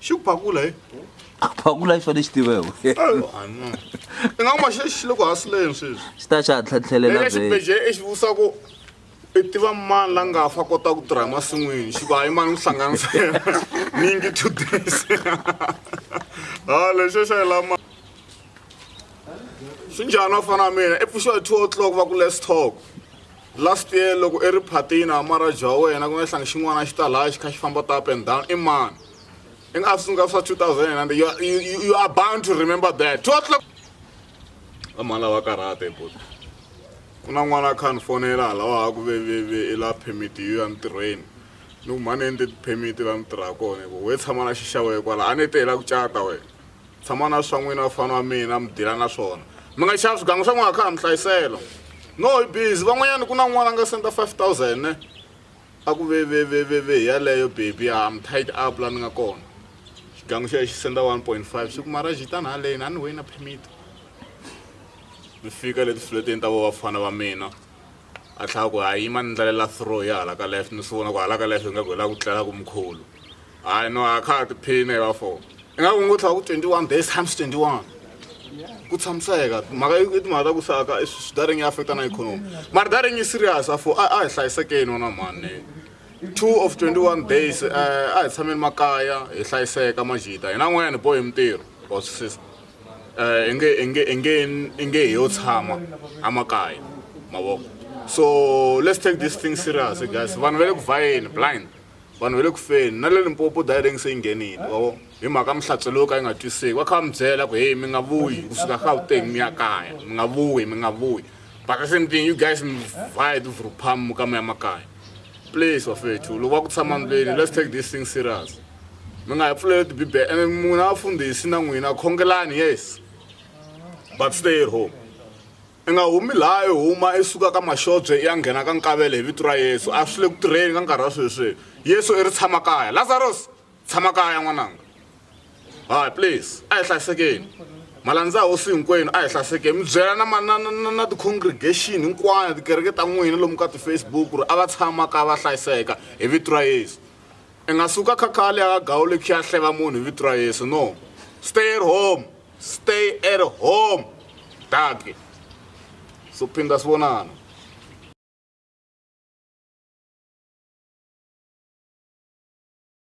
xi ku phakula hi a ku phakula xona xi tivewe i nga kuma xi xi le ku hasileni sweswi xi ta xa tlhatlhelela vhele xibeje i xi vusa ku i tiva mani la nga fa kota ku tirha emasin'wini xi ku hayi mani ku hlanganisa yena ni ngi two days ha lexo xa hi lama swi njhani wa fana mina i pfuxiwa hi two o'clock va ku less talk Last year loko i ri phatini amara bya wena ku nga hlangi xin'wana xi ta laya xi kha xi famba ta up and down i mani i nga sungula swa 2009 you, you, you are bound to remember that two o'clock vamhani lava karhata ebot ku na n'wana a kha ni fonela halawa ha ku veveve i la permit yo ya ntirhweni ni ku mhani endle ti-permit la ni tirha kona hi ku we tshama na xixawe kwala a ni te hi la ku cata wena tshama na swa n'wina vafana wa mina mi dila na swona mi nga xava swigangu swa n'wina kha ha mi hlayisela no hi busy van'wanyana ku na n'wana a nga senda 5000 ne a ku veveveveve hi yaleyo baby a mi tight up la ni nga kona xigangu xo ya xi senda 1.5 swi ku mara xitani haleni a ni wena permit mi fika leti fleteni ta vo vafana va mina a tlhela a ku hayi yima ni ndlalela throw ya hala ka left ni swi vona ku hala ka left ingaku hi la ku tlela ku mkhulu hayi no a kha a tiphina hi va four ingaku ngo tlhela ku twenty one days times twenty one ku tshamiseka mhaka i timhaka ta ku saka swidaring yi affecta na ikhonomi mara daring yi serious a fo a hi hlayisekeni wona mhani two of twenty one days um a hi tshameni makaya hi hlayiseka majita hina n'wanyana hi bohi mintirho wa swisisa eh, inge inge inge inge hi yo tshama amakaya mavoko so let's take this thing serious guys vanhu va le ku vhayeni blind vanhu va le ku feni na le limpopo direng se yi nghenile mavoko hi mhaka mihlatselo yo ka yi nga twiseki va kha va mi byela ku heyi mi nga vuyi kusuka gauteng mi ya kaya mi nga vuyi mi nga vuyi but the same thing you guys mi vhaya tivuruphamu ka mi ya makaya please wafethu loko va ku tshama ndlwini let's take this thing serious mi nga hi pfuleli tibibele ene n'wina vafundhisi na n'wina khongelani yes but stay at home i nga humi laha i huma i suka ka maxobye i ya nghena ka nkavele hi vito ra yesu a swi le ku tirheni ka nkarhi wa sweswi yesu i ri tshama kaya lazaros tshama kaya n'wananga hayi please a hi hlayisekeni malandza hosi hinkwenu a hi hlayisekeni mi byela na na na na ti-congregation hinkwana tikereke ta n'wina lomu ka ti-facebook ku ri a va tshama ka va hlayiseka hi vito ra yesu I nga suka khakhali a gawuli khi a hleva munhu hi vito ra Yesu no stay at home stay at home daki so phinda swi vonana